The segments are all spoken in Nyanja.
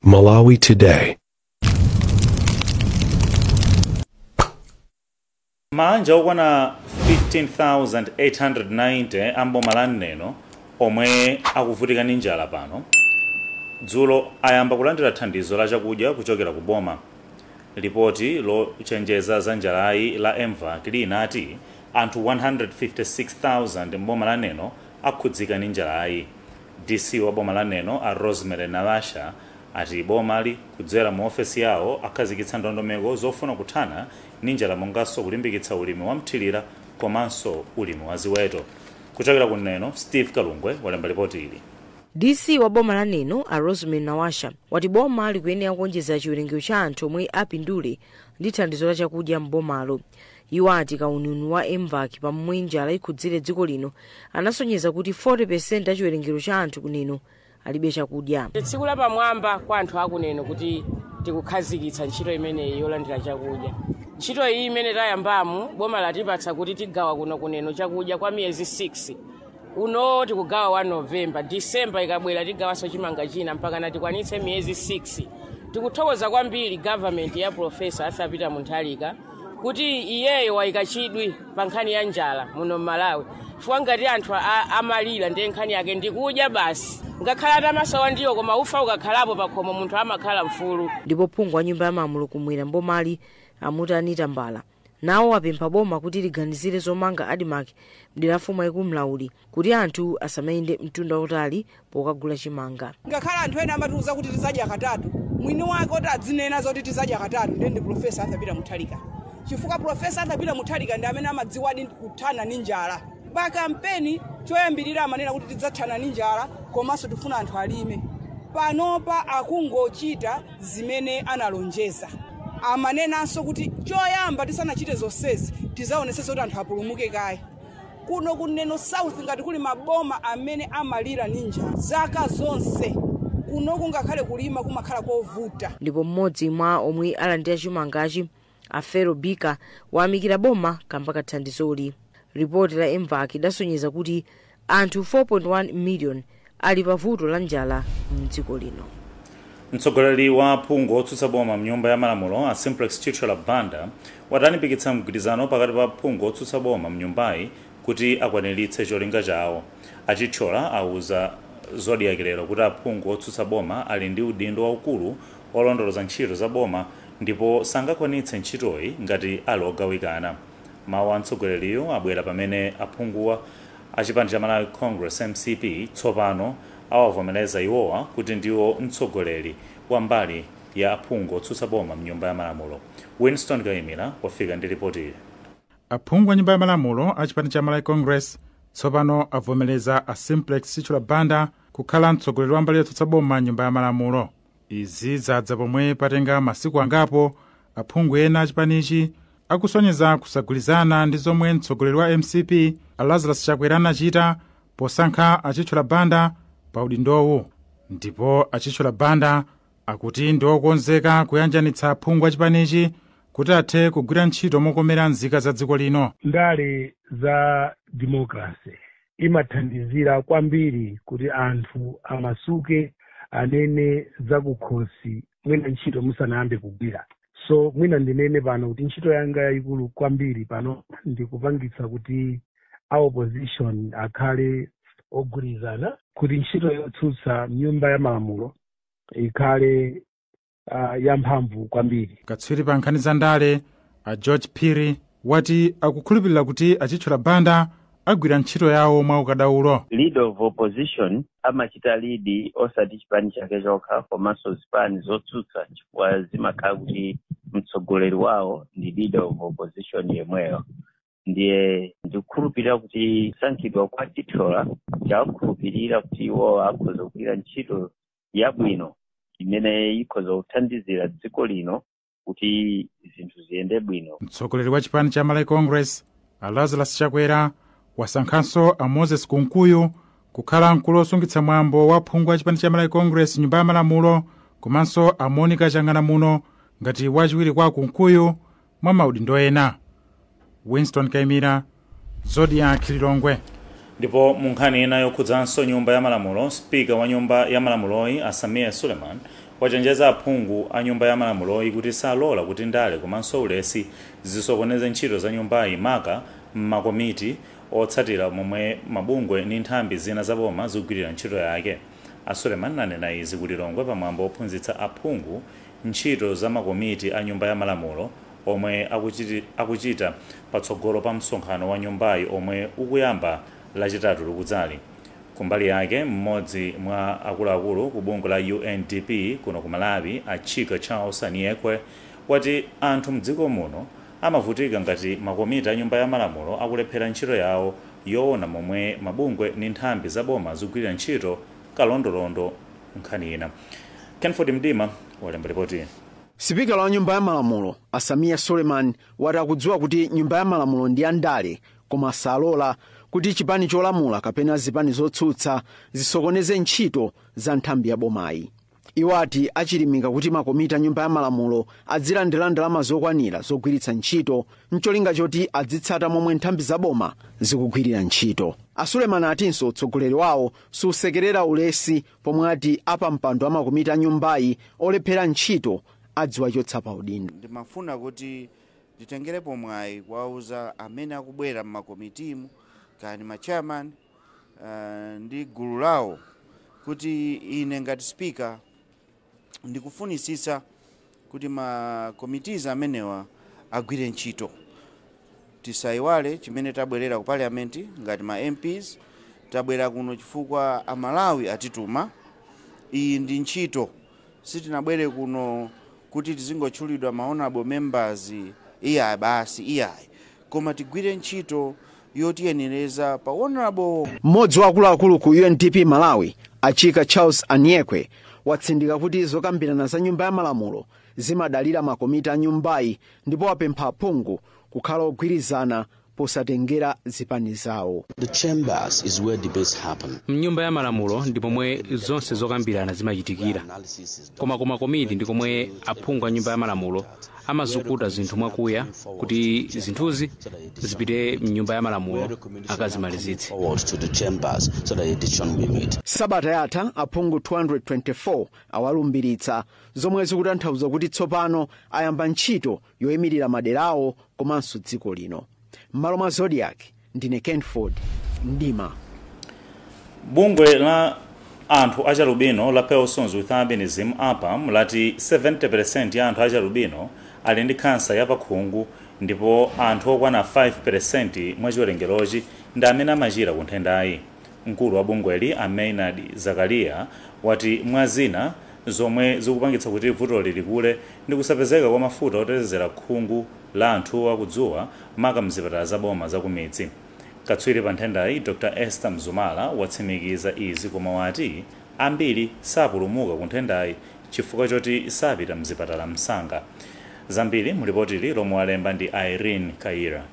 Malawi Today. maanja okwana 15,890 a mboma la neno omwe akuvutika ndi njala pano dzulo ayamba kulandira thandizo la chakudya kuchokera ku boma lipoti lochenjeza za njalayi la mvac linati anthu 156,000 mboma la neno akhudzika ndi njalayi DC wa boma la Neno a Rosemary Nawasha ati bomali kudzera mu ofesi yawo akhazikitsa ndondomeko zofuna kuthana ndi njala monganso kulimbikitsa ulimi wa mthilira komanso ulimi wa ziweto. Kuchokera ku Neno, Steve Kalungwe walemba lipoti ili. DC wa boma la Neno a Rosemary Nawasha wati boma likuyenera kuonjeza chiwerengero cha anthu omwe apindule ndi thandizo la chakudya m'bomalo. Iwo ati kauniuni wa MVAC pa momwe njala ikhudzire dziko lino anasonyeza kuti 40% a chiwerengero cha anthu ku Neno alibe chakudya. Ndi tsiku lapamwamba kwa anthu a ku Neno kuti tikukhazikitsa ntchito imeneyi yolandira chakudya. Ntchito iyi imene tayambamu boma latipatsa kuti tigawa kuno ku Neno chakudya kwa miyezi 6 uno tikugawa wa novemba disemba ikabwera tigawanso chimanga china mpaka natikwanitse miyezi 6 tikuthokoza kwambiri government ya profesa arthur peter mutharika kuti iyeyo wayika chidwi pa nkhani ya njala muno mmalawi chifukwa ngati anthu a- amalira ndiye nkhani yake ndikudya basi ngakhale atamasowa ndiwo koma ufa ukakhalapo pakhomo munthu amakhala mfulu ndipo phungu wa nyumba ya malamulo kumwera mbomali amuti anita mbala nawo wapempha boma kuti liganizire zomanga admarc mdera la mfumu yaikulu mlauli kuti anthu asamayende mtunda wautali pokagula chimanga ngakhale anthu ena amatiuza kuti tizadya katatu mwini wake oti adzinena zoti tizadya katatu ndiye ndi profesa arthur peter mutharika chifukwa profesa arthur peter mutharika ndi amene amadziwadi kuthana ndi njala pa kampeni choyambirira amanena kuti tidzathana ndi njala komanso tifuna anthu alime panopa akungochita zimene analonjeza. Amanenanso kuti choyamba tisanachite zonsezi tizaonetsetse kuti anthu apulumuke kaye. Kuno ku Neno South ngati kuli maboma amene amalira ndi njala zaka zonse kunoku ngakhale kulima kumakhala kovuta. ndipo mmodzi mwa omwe alandira chimangachi a fero bika wayamikira boma kamba ka thandizoli ripoti la mvac idasonyeza kuti anthu 4.1 miliyoni ali pa vuto la njala mdziko lino mtsogoleri wa aphungu otsutsa boma mnyumba ya malamulo a simplex chithyola banda wati alimbikitsa mgwirizano pakati pa aphungu otsutsa boma mnyumbayi kuti akwaniritse cholinga chawo achithyola auza zodiak lero kuti aphungu otsutsa boma ali ndi udindo waukulu olondoloza ntchito za boma ndipo sangakwanitse ntchitoyi ngati ali ogawikana. Mawu a mtsogoleriyu abwera pamene aphungu a chipani cha Malawi Congress, mcp, tsopano awavomereza iwowa kuti ndiwo mtsogoleri wa mbali ya aphungu otsutsa boma m'Nyumba ya Malamulo. Winston Kaimira wafika ndi lipoti ili. Aphungu a Nyumba ya Malamulo a chipani cha Malawi Congress tsopano avomereza a Simplex Chithyola Banda kukhala mtsogoleri wa mbali yotsutsa boma m'Nyumba ya Malamulo. izi zadza pomwe patenga masiku angapo aphungu ena achipanichi akusonyeza kusagwirizana ndi zomwe mtsogoleri wa mcp a lazarus chakwera anachita posankha a Chithyola Banda pa udindowu ndipo a Chithyola Banda akuti ndi okonzeka kuyanjanitsa aphungu achipanichi kuti athe kugwira ntchito mokomera nzika za dziko lino ndale za democracy imathandizira kwambiri kuti anthu amasuke anene zakukhosi mwina ntchito musanayambe kugwira so mwina ndinene pano kuti ntchito yanga yayikulu kwambiri pano ndikupangitsa kuti a opposition akhale ogwirizana kuti ntchito yotsutsa mnyumba ya malamulo ikhale uh, yamphamvu kwambiri katswiri pa nkhani za ndale a george phiri wati akukhulupirira kuti a Chithyola Banda agwira ntchito yawo mwa ukadaulo leader of opposition amachita lead osati chipani chake chokha komanso zipani zotsutsa chifukwa zimakhala kuti mtsogoleri wawo ndi leader of opposition yemweyo ndiye ndikukhulupirira kuti kusankhidwa kwa Chithyola chawakhulupirira kuti iwo akhoza kugwira ntchito yabwino imene ikhoza kuthandizira dziko lino kuti zinthu ziyende bwino mtsogoleri wa chipani cha malawi congress a lazarus chakwera wasankhanso a moses kunkuyu kukhala mkulu wosungitsa mwambo wa aphungu a chipani cha malawi congress m'nyumba ya malamulo komanso a monica chang'anamuno ngati wachiwiri kwa kunkuyu mwa maudindo ena winston kaimira zodiak lilongwe ndipo mu nkhani ina yokhudzanso nyumba ya malamulo sipika wa nyumba ya malamuloyi a Sameer suleiman wachenjeza aphungu a nyumba ya malamuloyi kuti salola kuti ndale komanso ulesi zisokoneze ntchito za nyumbayi maka m'makomiti otsatira momwe mabungwe ndi nthambi zina za boma zikugwirira ntchito yake a suleiman anena izi ku lilongwe pamwambo ophunzitsa aphungu ntchito za makomiti a Nyumba ya Malamulo omwe akuchita patsogolo pa msonkhano wa nyumbayi omwe ukuyamba Lachitatu likudzali. Kumbali yake, mmodzi mwa akuluakulu ku bungwe la UNDP kuno ku Malawi, a Chika Charles Aniekwe, wati anthu m'dziko muno amavutika ngati makomiti a Nyumba ya Malamulo akulephera ntchito yawo yoona momwe mabungwe ndi nthambi za boma zikugwirira ntchito. kalondolondo nkhani ina. Kenford Mdima walemba lipoti. Sipikala wa nyumba ya malamulo a Sameer Suleiman wati akudziwa kuti nyumba ya malamulo ndi ya ndale koma salola kuti chipani cholamula kapena zipani zotsutsa zisokoneze ntchito za nthambi ya bomayi. Iwo ati achilimika kuti makomiti a Nyumba ya Malamulo adzilandira ndalama zokwanira zogwiritsa ntchito n'cholinga choti adzitsata momwe nthambi za boma zikugwirira ntchito. A Suleman atinso utsogoleri wawo susekerera ulesi pomwe ati apampando a makomiti a nyumbayi olephera ntchito adziwachotsa pa udindo. ndimafuna kuti nditengerepo mwayi kuwauza amene akubwera m'makomitimu kaya ma chairman ndi gulu lawo kuti ine ngati speaker ndikufunitsitsa kuti ma committees amenewa agwire ntchito tisayiwale chimene tabwerera ku parliament ngati ma MPs tabwera kuno chifukwa amalawi atituma iyi ndi ntchito sitinabwere kuno kuti tizingotchulidwa ma honorable members iyayi basi iyayi koma tigwire ntchito yotiyenereza pa Hon. Mmodzi wa akuluakulu ku UNDP Malawi, a Chika Charles Aniekwe, watsindika kuti zokambirana za Nyumba ya Malamulo zimadalira makomiti a nyumbayi ndipo wapempha aphungu kukhala ogwirizana posatengera zipani zawo. The chambers is where debates happen. Mnyumba ya Malamulo ndi pomwe zonse zokambirana zimachitikira. koma ku makomiti ndi komwe aphungu a nyumba ya malamulo amazukuta zinthu mwakuya kuti zinthuzi zipite mnyumba ya malamulo akazimalizitse sabata yatha aphungu 224 awalumbiritsa zomwe zikutanthauza kuti tsopano ayamba ntchito yoimirira maderawo komanso dziko lino m'malo mwa zodiak ndine kenford mdima bungwe la anthu achalubino la persons with albinism apam lati 70% ya anthu achalubino ali ndi khansa ya pakhungu ndipo anthu okwana 5% mwa chiwerengerochi ndi amene amachira ku nthendayi mkulu wa bungweli a maynard zakaria wati mwa zina zomwe zikupangitsa kuti vutoli likule ndi kusapezeka kwa mafuta otetezera khungu la anthuwa ku dzuwa maka m'zipatala za boma za kumidzi. Katswiri pa nthendayi Dr Esther Mzumara watsimikiza izi koma wati ambiri sapulumuka ku nthendayi chifukwa choti sapita m'zipatala msanga. Zambiri mu lipotili lomwe walemba ndi Irene Kayira.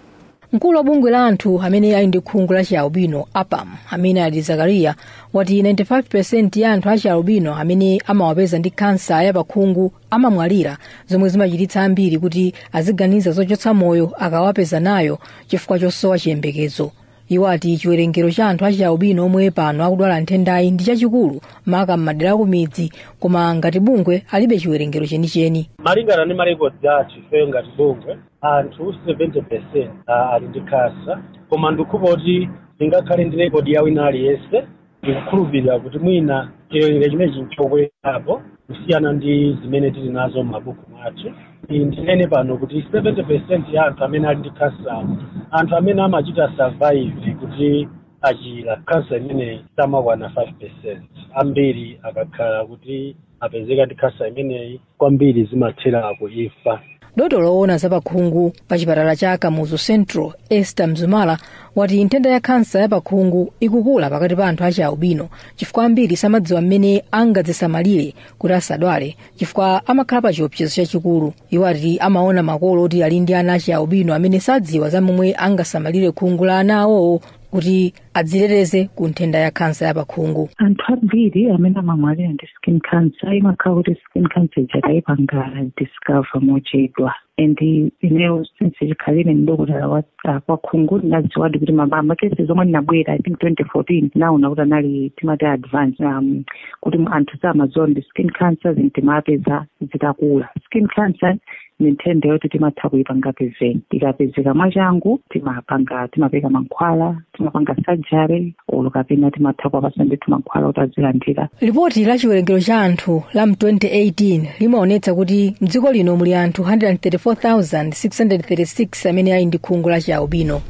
mkulu wa bungwe la anthu amene ali ndi khungu la chialbino apam amene ali zakariya wati 95% ya anthu a chialbino amene amawapeza ndi kansa ya pakhungu amamwalira zomwe zimachititsa ambiri kuti aziganiza zochotsa moyo akawapeza nayo chifukwa chosowa chiyembekezo iwo ati chiwerengero cha anthu a chialbino omwe pano akudwala nthendayi ndi chachikulu maka m'madera akumidzi koma ngati bungwe alibe chiwerengero chenicheni malingana ndi marekodzi athu ifeyo ngati bungwe anthu 70% a- ali ndi khansa koma ndikukhulupirira kuti ndingakhale ndi rekodi ya wina aliyense ndikukhulupirira kuti mwina chiwerengero chimenechi nchokwerapo kusiyana ndi zimene tili nazo m'mabuku mwathu ndinene pano kuti 70% ya anthu amene ali ndi khansa anthu amene amachita survive kuti achira khansa imeneyi samakwana 5% ambiri akakhala kuti apezeka ndi khansa imeneyi kwambiri zimathera ku imfa dotolo woona za pakhungu pa chipatala cha kamuzu central esther mzumala wati nthenda ya khansa ya pakhungu ikukula pakati pa anthu a chialbino chifukwa ambiri samadziwa mmene angadzisamalire kuti asadwale chifukwa amakhala pa chiopsezo chachikulu iwo ati amaona makolo oti ali ndi ana a chialbino amene sadziwa za momwe angasamalire khungu la ana awowo kuti adziteteze ku nthenda ya khansa ya pakhungu anthu ambiri amene amamwalira ndi skin cancer imakhala kuti skin cancer ija tayipanga discover mochedwa and ineyo since chikhalire mdokotala wa ah, kwa khungu ndinadziwadi kuti makesi zomwe ndinabwera i think 2014 naona kuti anali timati advance um, kuti anthu samadziwa ndi skin cancer zinthu timapeza zitakula skin cancer ni nthenda yoti timatha kuipanga prevent ikapezeka mwachangu timapanga timapereka mankhwala timapanga surgery olo kapena timatha kuwapatsa ndithu mankhwala kuti azilandira lipoti la chiwerengero cha anthu la mu 2018 limaonetsa kuti mdziko lino muli anthu 134,636 amene ali ndi khungu la chiaubino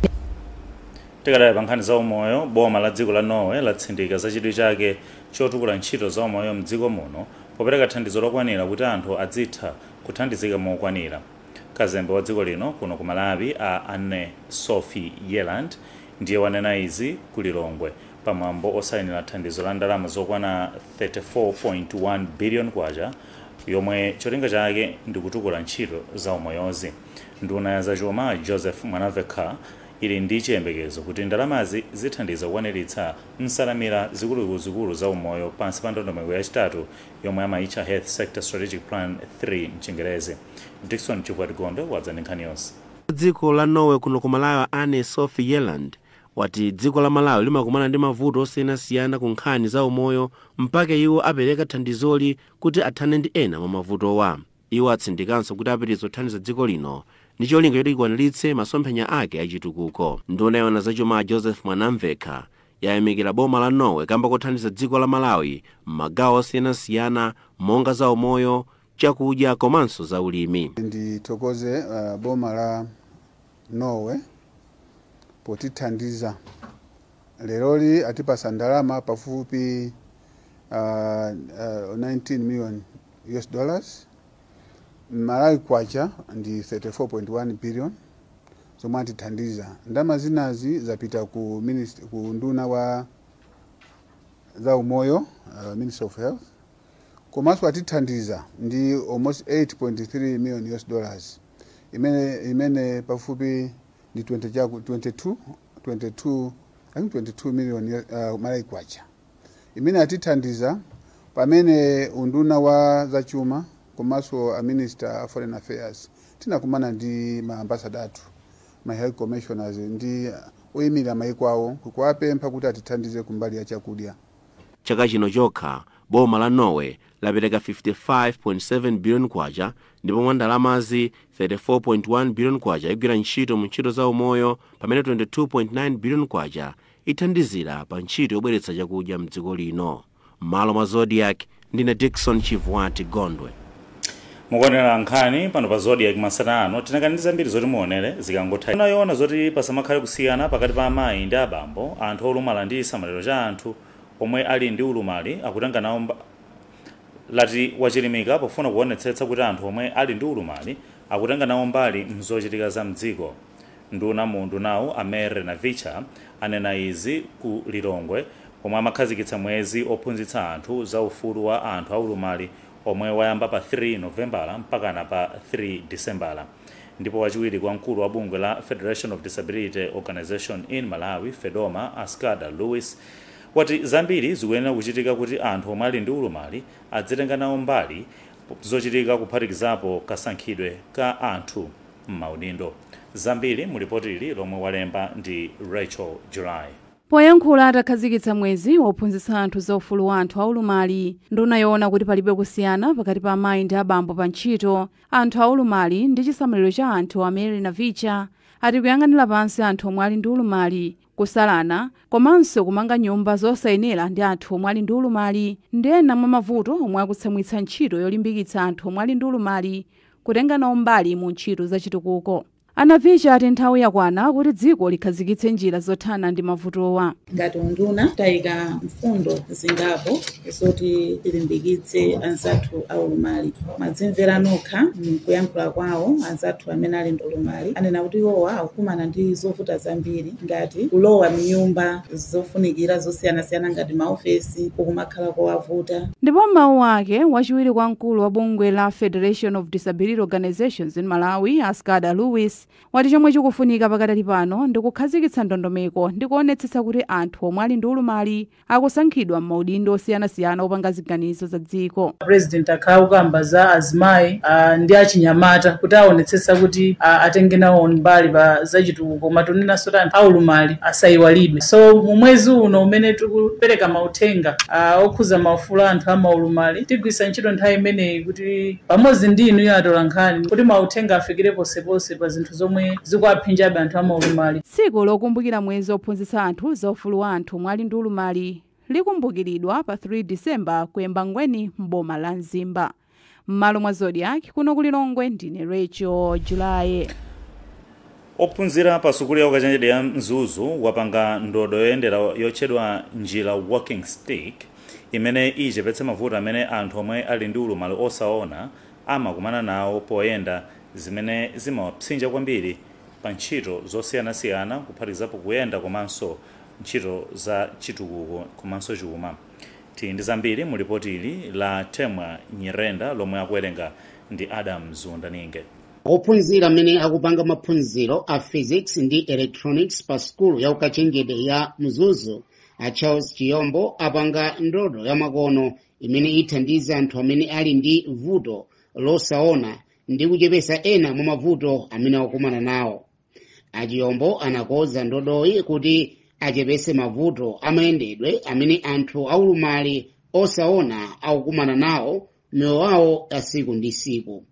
tikadali pa nkhani za umoyo boma la dziko la norway latsindika za chidwi chake chotukula ntchito za umoyo mdziko muno popereka thandizo lokwanira kuti anthu adzitha kuthandizika mokwanira. Kazembe wa dziko lino kuno ku Malawi Anne Sophie Yeland ndiye wanena izi ku Lilongwe pa mwambo osayinira thandizo la ndalama zokwana K34.1 billion yomwe cholinga chake ndi kutukula ntchito za umoyozi. Nduna ya za chuma Joseph Mwanamvekha ili ndi chiyembekezo kuti ndalamazi zithandiza kukwaniritsa nsanamira zikuluzikulu za umoyo pansi pa ndondomeko yachitatu yomwe amaitcha Health Sector Strategic Plan 3 m'Chingerezi. Dickson Chivwati Gondwe wadza ndi nkhani yonse. Wa dziko la Norway kuno ku Malawi a Anne Sofie Bjelland wati dziko la Malawi limakumana ndi mavuto osiyanasiyana ku nkhani za umoyo mpake iwo apereka thandizoli kuti athane ndi ena mwa mavutowa. Iwo atsindikanso kuti apitiriza kuthandiza dziko lino ndi cholinga choti likwaniritse masomphenya ake a chitukuko. Nduna yoona zachuma a Joseph Mwanamvekha yayamikira boma la Norway kamba kothandiza dziko la Malawi m'magawo osiyanasiyana monga za umoyo, chakudya komanso za ulimi. Ndithokoze uh, boma la Norway potithandiza leroli atipasa ndalama pafupi uh, uh, 19 million US dollars Malawi kwacha ndi 34.1 billion zomwe atithandiza. Ndalama zinazi zapita ku, minist- ku unduna wa zaumoyo uh, Ministry of Health komanso atithandiza ndi almost 8.3 million US dollars imene, imene pafupi ndi 20 chaku- 22, 22, I think 22 million uh, Malawi kwacha imene atithandiza pamene unduna wa zachuma komanso a minister a foreign affairs tinakumana ndi ma ambassador athu ma high commissioners ndi oyimirira mayiko awo kukuwapempha kuti atithandize kumbali ya chakudya Chaka chino chokha, boma la Norway lapereka 55.7 biliyoni kwacha ndipo mwa ndalamazi, 34.1 biliyoni kwacha igwira ntchito mu ntchito za umoyo pamene 22.9 biliyoni kwacha ithandizira pa ntchito yobweretsa chakudya mdziko lino. Mmalo mwa Zodiak, ndine Dickson Chivwati Gondwe. Mukuonera nkhani pano pa Zodiak masana ano, tinakali ndi zambiri zoti muonere zikangotha. Unduna woona zoti pasamakhale kusiyana pakati pa amayi ndi abambo, anthu olumala ndi chisamaliro cha anthu omwe ali ndi ulumali akutenga nawo mb lati wachilimika pofuna kuonetsetsa kuti anthu omwe ali ndi ulumali akutenga nawo mbali mzochitika za mdziko. Nduna mu undunawu a Mary Navicha anena izi ku Lilongwe pomwe amakhazikitsa mwezi ophunzitsa anthu za ufulu wa anthu aulumali omwe wayamba pa 3 Novembala mpakana pa 3 Disembala ndipo wachiwiri kwa mkulu wa bungwe la Federation of Disability Organisation in Malawi, Fedoma, a Scader Louis wati zambiri zikuyenera kuchitika kuti anthu omwe ali ndi ulumali adzitenga nawo mbali mzochitika kuphatikizapo kasankhidwe ka anthu. m'maudindo. Zambiri mu lipoti ili lomwe walemba ndi Rachel July. Poyankhula atakhazikitsa mwezi wophunzitsa anthu za ufulu wa anthu aulumali, nduna yoona kuti palibe kusiyana pakati pa amayi ndi abambo pa ntchito, anthu aulumali ndi chisamaliro cha anthu a Mary Navicha ati kuyang'anira pansi anthu omwe ali ndi ulumali kusalana, komanso kumanga nyumba zosayenera ndi anthu omwe ali ndi ulumali, ndi ena mwa mavuto omwe akutsamwitsa ntchito yolimbikitsa anthu omwe ali ndi ulumali kutenga nawo mbali mu ntchito za chitukuko. A Navicha ati nthawi yakwana kuti dziko likhazikitse njira zothana ndi mavutowa. Ngati unduna, tayika mfundo zingapo. zoti tilimbikitse anzathu aulumali. Mwadzimvera nokha m'kuyankhula kwawo, anzathu amene ali ndi ulumali anena kuti iwowa akukumana ndi zovuta zambiri ngati kulowa m'nyumba zofunikira zosiyanasiyana ngati maofesi kukumakhala kowavuta. Ndipo m'mawu ake, wachiwiri kwa mkulu wa bungwe la Federation of Disability Organizations in Malawi, a Scader Louis, wati chomwe chikufunika pakadali pano ndi kukhazikitsa ndondomeko ndi kuonetsetsa kuti anthu omwe ali ndi ulumali akusankhidwa m'maudindo osiyanasiyana opanga ziganizo za dziko. President akhala akukamba za azimayi a ndi achinyamata kuti aonetsetsa kuti a, atenge nawo mbali pa zachitukuko koma tikunenanso kuti anthu aulumali asayiwalidwe so mu mwezi uno umene tikupereka mauthenga a, okhuza maufulu a anthu a maulumali tigwiritsa ntchito nthawi imeneyi kuti pamodzi ndi inuyo atolankhani kuti mauthenga afikire ponseponse pa zinthu zomwe zikuwaphinjabe anthu a maulumali. Tsiku lokumbukira mwezi wophunzitsa anthu za ufulu wa anthu. omwe ali ndi ulumali likumbukiridwa pa 3 December ku Embangweni m'boma la Mzimba. M'malo mwa Zodiak kuno ku Lilongwe ndine Rachel Julaye. Ophunzira pa sukulu ya ukachenjede ya Mzuzu wapanga ndodo yoyendera yotchedwa Njira Walking Stick imene ichepetse mavuto amene anthu omwe ali ndi ulumali osaona amakumana nawo poyenda zimene zimawapsinja kwambiri pa ntchito zosiyanasiyana kuphatikizapo kuyenda komanso ntchito za chitukuko komanso chuma. Tili ndi zambiri mu lipoti ili la Temwa Nyirenda lomwe akuwerenga ndi Adams Wundaninge. Ophunzira amene akupanga maphunziro a physics ndi electronics pa sukulu ya ukachenjede ya Mzuzu a Charles Chiyombo apanga ndodo yamakono imene ithandiza anthu amene ali ndi vuto losaona ndi kuchepesa ena mwa mavuto amene akukumana nawo. a Chiyombo anakonza ndodoyi kuti achepese mavuto amayendedwe amene anthu aulumali osaona akukumana nawo m'miyoyo yawo ya siku ndi siku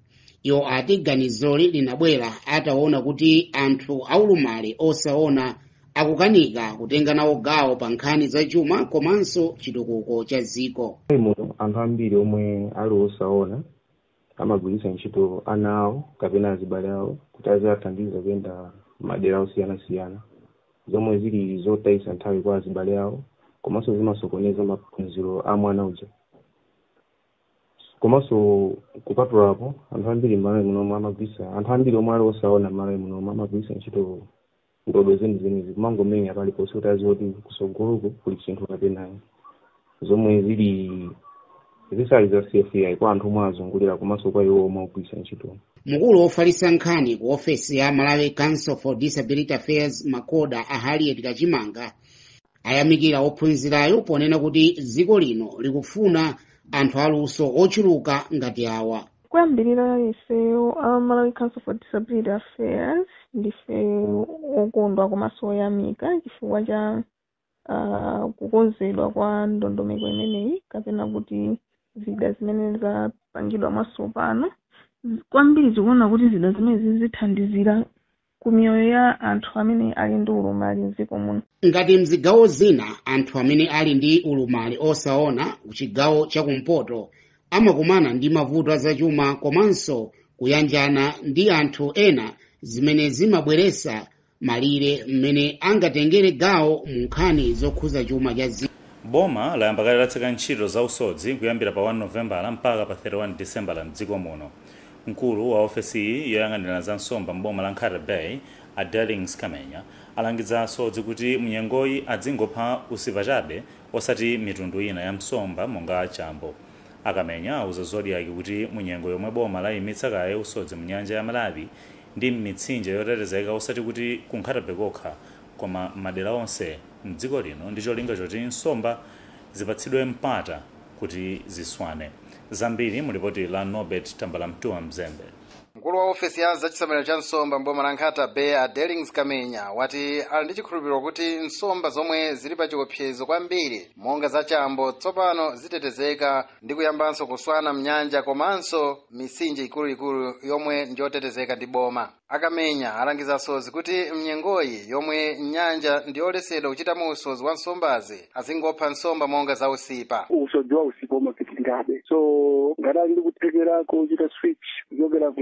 iwo ati ganizoli linabwera ataona kuti anthu aulumali osaona akukanika kutenga nawo gawo pa nkhani za chuma komanso chitukuko cha dziko anthu ambiri omwe ali osaona amagwiritsa ntchito ana awo kapena azibale awo kuti aziwathandiza kuyenda madera osiyanasiyana, zomwe zili zotayitsa nthawi kwa azibale awo komanso zimasokoneza maphunziro a mwana uja. Komanso kupatula apo, anthu ambiri m'Malawi munomu amagwiritsa anthu ambiri omwe ali osaona m'Malawi munomu amagwiritsa ntchito ndodo zenizenizi kumangomenya paliponse kuti aziwe kuti kusogoloko kuli chinthu kapena ayi zomwe zili zisali za safe kwa anthu omwe azungulira komanso kwa iwo omwe akugwiritsa ntchito mkulu wofalitsa nkhani ku ofesi ya malawi council for disability affairs macoda a harriet kachimanga ayamikira ophunzirayo ponena kuti dziko lino likufuna anthu aluso ochuluka ngati awa Kuyambirira ifeyo a Malawi Council for Disability Affairs ndife okondwa komanso oyamika chifukwa cha ah, kukonzedwa kwa ndondomeko imeneyi kapena kuti zida zimene zapangidwa mwatsopano. Kwambiri tikuona kuti zida zimenezi zithandizira ku miyoyo ya anthu amene ali ndi ulumali m'dziko muno. Ngati m'zigawo zina anthu amene ali ndi ulumali osaona kuchigawo chakumpoto amakumana ndi mavuto azachuma komanso kuyanjana ndi anthu ena zimene zimabweretsa malire mmene angatengere gawo mu nkhani zokhuza chuma cha dziko. Boma layamba kale kutseka ntchito za usodzi kuyambira pa 1 Novembala mpaka pa 31 Disembala m'dziko muno. Mkulu wa ofesiyi yoyang'anira za nsomba m'boma la Nkhata Bay, a Dellings Kamenya, alangiza asodzi kuti mu nyengoyi adzingopha usipa chabe osati mitundu ina ya msomba monga chambo. A Kamenya auza Zodiak kuti mu nyengo yomwe boma layimitsa kaye usodzi mu nyanja ya Malawi ndi m'mitsinje yotetezeka osati kuti ku Nkhata Bay kokha koma m'madera onse m'dziko lino ndi cholinga choti nsomba zipatsidwe mpata kuti ziswane. Zambiri mu lipoti la Norbert Tambalamtuwa Mzembe. Mkulu wa ofesi ya zachisamaliro cha nsomba mboma la Nkhata Bay a Dellings Kamenya wati ali ndi chikhulupiriro kuti nsomba zomwe zili pa chiopsezo kwambiri monga za chambo tsopano zitetezeka ndi kuyambanso kuswana mnyanja komanso misinje ikuluikulu yomwe ndiyotetezeka ndi boma. a kamenya alangiza asodzi kuti mnyengoyi yomwe nyanja ndiyoletsedwa kuchitamo usodzi wa nsombazi azingopha nsomba monga za usipa usodzi wa usipa umapitirirabe so ngati ali ndi kuthekera kochita switch kuchokera ku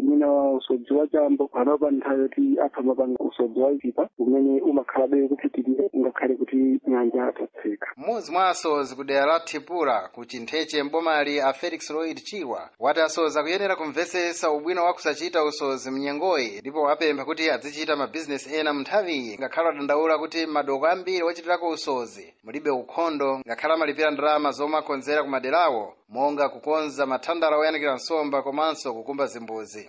mwina usodzi wa chambo panopa nthawi yoti atha kumapanga usodzi wa usipa umene umakhalabe kupitirira ngakhale kuti nyanja tatseka mmodzi mwa asodzi ku dera la thipula ku chintheche mbomali a felix lloyd chirwa wati asodzi akuyenera kumvetsetsa ubwino wa kusachita usodzi mnyengoyi ndipo wapempha kuti adzichita mabizinesi ena munthawiyi ngakhale wadandaula kuti madoko ambiri ochitirako usodzi mulibe ukhondo ngakhale amalipira ndalama zomwe akonzera kumaderawo monga kukonza mathandala oyanikira nsomba komanso kukumba zimbudzi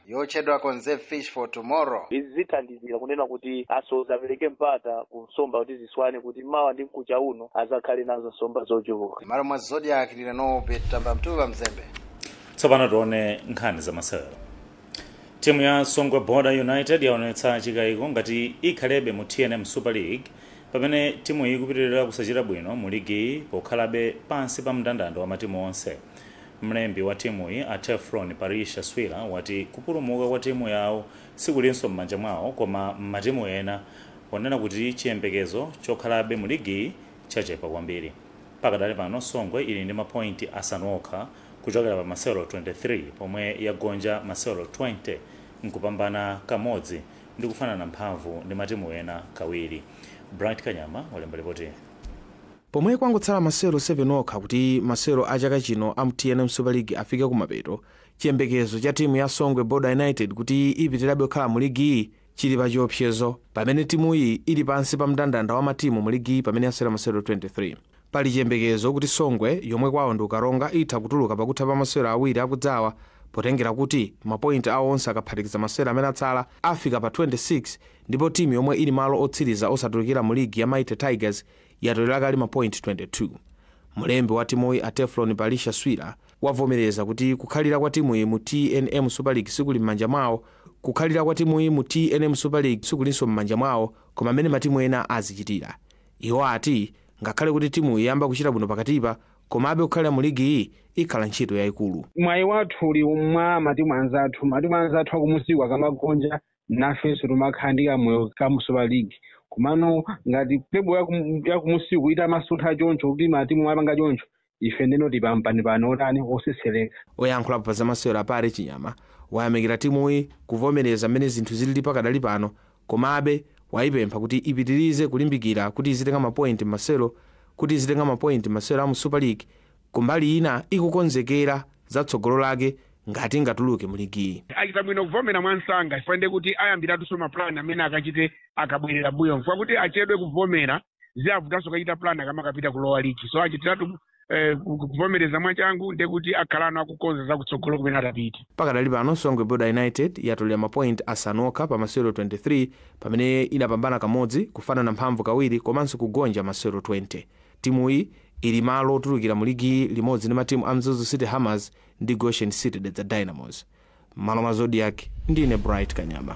yotchedwa conserve fish for tomorrow izi zithandizira kunena kuti asodzi apereke mpata ku nsomba kuti ziswane kuti mawa ndi mkucha uno adzakhale nazo nsomba zochuluka m'malo mwa zodiak ndine nobert katamba mtuwa mzembe tsopano tione nkhani zamasewero timu ya songwe border united yaonetsa chikayiko ngati ikhalebe mu tnm super league pamene timu iyi ikupitirira kusachita bwino mu ligiyi pokhalabe pansi pa mndandanda wa matimu onse Mlembi wa timuyi, a Teflon Palisha Swira, wati kupulumuka kwa timu yawo sikulinso m'manja mwawo koma m'matimu ena ponena kuti chiyembekezo chokhalabe mu ligiyi chachepa kwambiri. Pakadali pano Songwe ili ndi mapointi asanu okha kuchokera pa masewero 23 pomwe yagonja masewero 20 n'kupambana kamodzi ndi kufanana mphamvu ndi matimu ena kawiri. Bright Kanyama walemba lipoti. Pomwe kwangotsala masewero 7 okha kuti masewero a chaka chino amu tnm Super League afike kumapeto, chiyembekezo cha timu ya Songwe Border United kuti ipitirabe kukhala mu ligiyi chili pachiopsezo pamene timuyi ili pansi pa mndandanda wa matimu mu ligiyi pamene yasewera masewero 23. Pali chiyembekezo kuti Songwe yomwe kwawo ndi ku Karonga itha kutuluka pakutha pa masewero awiri akudzawa potengera kuti mapoint awo onse akaphatikiza masewero amene atsala afika pa 26 ndipo timu yomwe ili malo otsiriza osatulukira mu ligi ya Mighty Tigers yatolera kale mapointi 22. Mlembi wa timuyi a Teflon Palisha Swira wavomereza kuti kukhalira kwa timuyi mu tnm Super League sikuli m'manja mwawo kukhalira kwa timuyi mu tnm Super League sikulinso m'manja mwawo koma m'mene matimu ena azichitira. Iwo ati ngakhale kuti timuyi yayamba kuchita bwino pakatipa komabe kukhalira mu ligiyi ikhala ntchito yayikulu. Mwayi wathu uli mwa matimu anzathu, matimu anzathu akumusiku akamagonja nafenso tumakhala ndi kamoyo ka mu super league komano ngati table yaku- yakumusiku itamasuntha choncho kuti matimu apanga choncho ife ndeno tipampani pano otani otsetsereka oyankhulapo pa zamasewero a parry chinyama wayamikira timuyi kuvomereza mmene zinthu zilili pakadali pano komabe wayipempha kuti ipitirize kulimbikira kuti izitenga mapointi m'masewero kuti izitenga mapointi m'masewero a mu super league Kumbali ina ikukonzekera za tsogolo lake ngati ingatuluke mu ligiyi. Achita bwino kuvomera mwamsanga chifukwa ndiye kuti ayambiratunso ma plan amene akachite akabwerera mmbuyomu chifukwa kuti achedwe kuvomera ziavutanso kukachita plan akamakapita ku lower league so achitiratu eh, ku- ku- kuvomereza mwachangu ndiye kuti akhalano akukonza za kutsogolo kumene atapite. Pakadali pano Songwe Border United yatolera ma point asanu okha pa masewero 23 pamene inapambana kamodzi, kufanana mphamvu kawiri komanso kugonja masewero 20. Timuyi ili malo otulukira mu ligiyi limodzi ndi matimu a Mzuzu City Hammers ndi Goshen City Dedza Dynamos. M'malo mwa Zodiac ndine Bright Kanyama.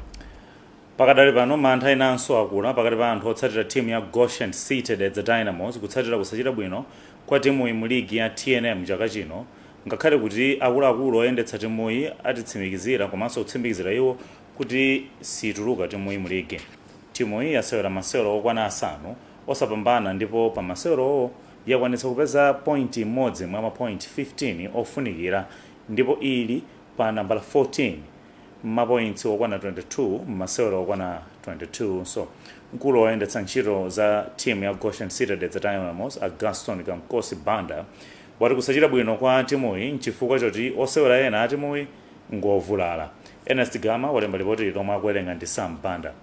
Pakadali pano mantha enanso akula pakati pa anthu otsatira timu ya Goshen City Dedza Dynamos kutsatira kusachita bwino kwa timuyi mu ligi ya tnm chaka chino ngakhale kuti akuluakulu oyendetsa timuyi atitsimikizira komanso kutsimikizira iwo kuti siituluka timuyi mu ligi. Timuyi yasewera masewero okwana asanu osapambana ndipo pa masewerowo yakwanitsa kupeza point imodzi mwa ma point 15 ofunikira ndipo ili pa nambala 14 mmapointsi okwana 22 mmasewero okwana 22nso. Mkulu oyendetsa ntchito za timu ya Goshen City Dedza Dynamos a Gaston Kamkosi Banda wati kusachita bwino kwa timuyi n'chifukwa choti osewera ena atimuyi ngovulala. Ernest Gama walemba lipotili lomwe akuwerenga ndi Sam Banda.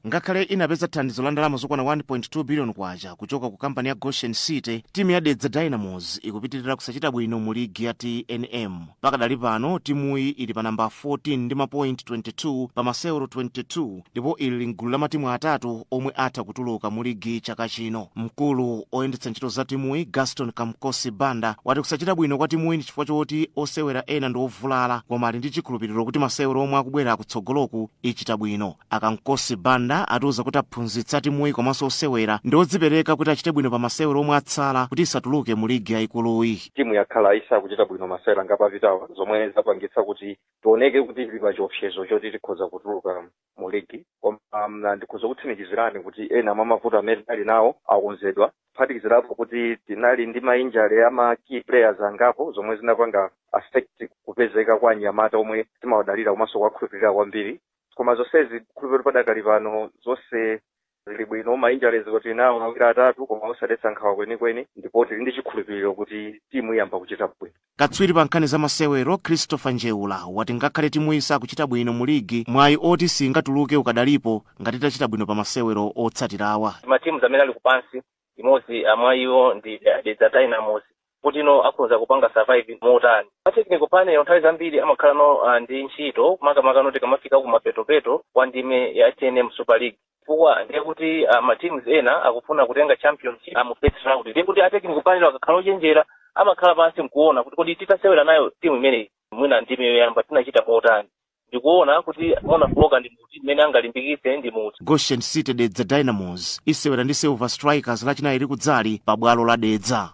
Ngakhale inapeza thandizo la ndalama zokwana K1.2 biliyoni kuchoka ku kampani ya Goshen City, timu ya Dedza Dynamos ikupitirira kusachita bwino mu ligi ya tnm. Pakadali pano, timuyi ili pa nambala 14 ndi mapointi 22 pa masewero 22 ndipo ili m'gulu la matimu atatu omwe atha kutuluka mu ligi chaka chino mkulu oyendetsa ntchito za timuyi gaston kamkosi banda wati kusachita bwino kwa timuyi ndi chifukwa choti osewera ena ndi ovulala koma ali ndi chikhulupiriro kuti masewero omwe akubwera kutsogoloku ichita bwino akamkosi banda atiuza kuti aphunzitsi a timuyi komanso osewera ndi odzipereka kuti achite bwino pa masewero omwe atsala kuti isatuluke mu ligi yayikuluyi timu yakhala isakuchita bwino masewera angapo apitawa zomwe zapangitsa kuti tioneke kuti tili pa chiopsezo choti tikhoza kutuluka mu ligi koma um, ndikhoza kukutsimikizirani kuti ena mwa mavuto amene tinali nawo akonzedwa kuphatikizirapo kuti tinali ndi mainjale a ma key players angapo zomwe zinapanga affect kupezeka kwa anyamata omwe timawadalira komanso kuwakhulupirira kwambiri koma zonsezi khulupiriro padakali pano zonse zili bwino ma injuries tili nawo awiri atatu koma osadetsa nkhawa kwenikweni ndipo tili ndi chikhulupiriro kuti timu iyamba kuchita bwino katswiri pa nkhani za masewero christopher njeula wati ngakhale timuyi isakuchita bwino mu ligi mwayi oti singatuluke ukadalipo ngati itachita bwino pa masewero otsatirawa matimu amene ali kupansi imodzi mwa iwo ndi dedza dynamos kuti no akhoza kupanga survive motani a technical panel nthawi zambiri amakhala ndi uh, ndi ntchito makamaka no tikamafika ku mapetopeto kwa ndime ya tnm super league chifukwa ndiye kuti uh, ma teams ena akufuna kutenga championship uh, mu first round ndiye kuti a technical panel akakhala ochenjera amakhala pansi nkuona kuti kodi titasewera nayo timu imeneyi mwina ndime yoyamba tinachita motani ndikuona kuti mofooka ndi muti mmene angalimbikitse ndi muti goshen city dedza dynamos isewera ndi silver strikers lachinayi likudzali pa bwalo la dedza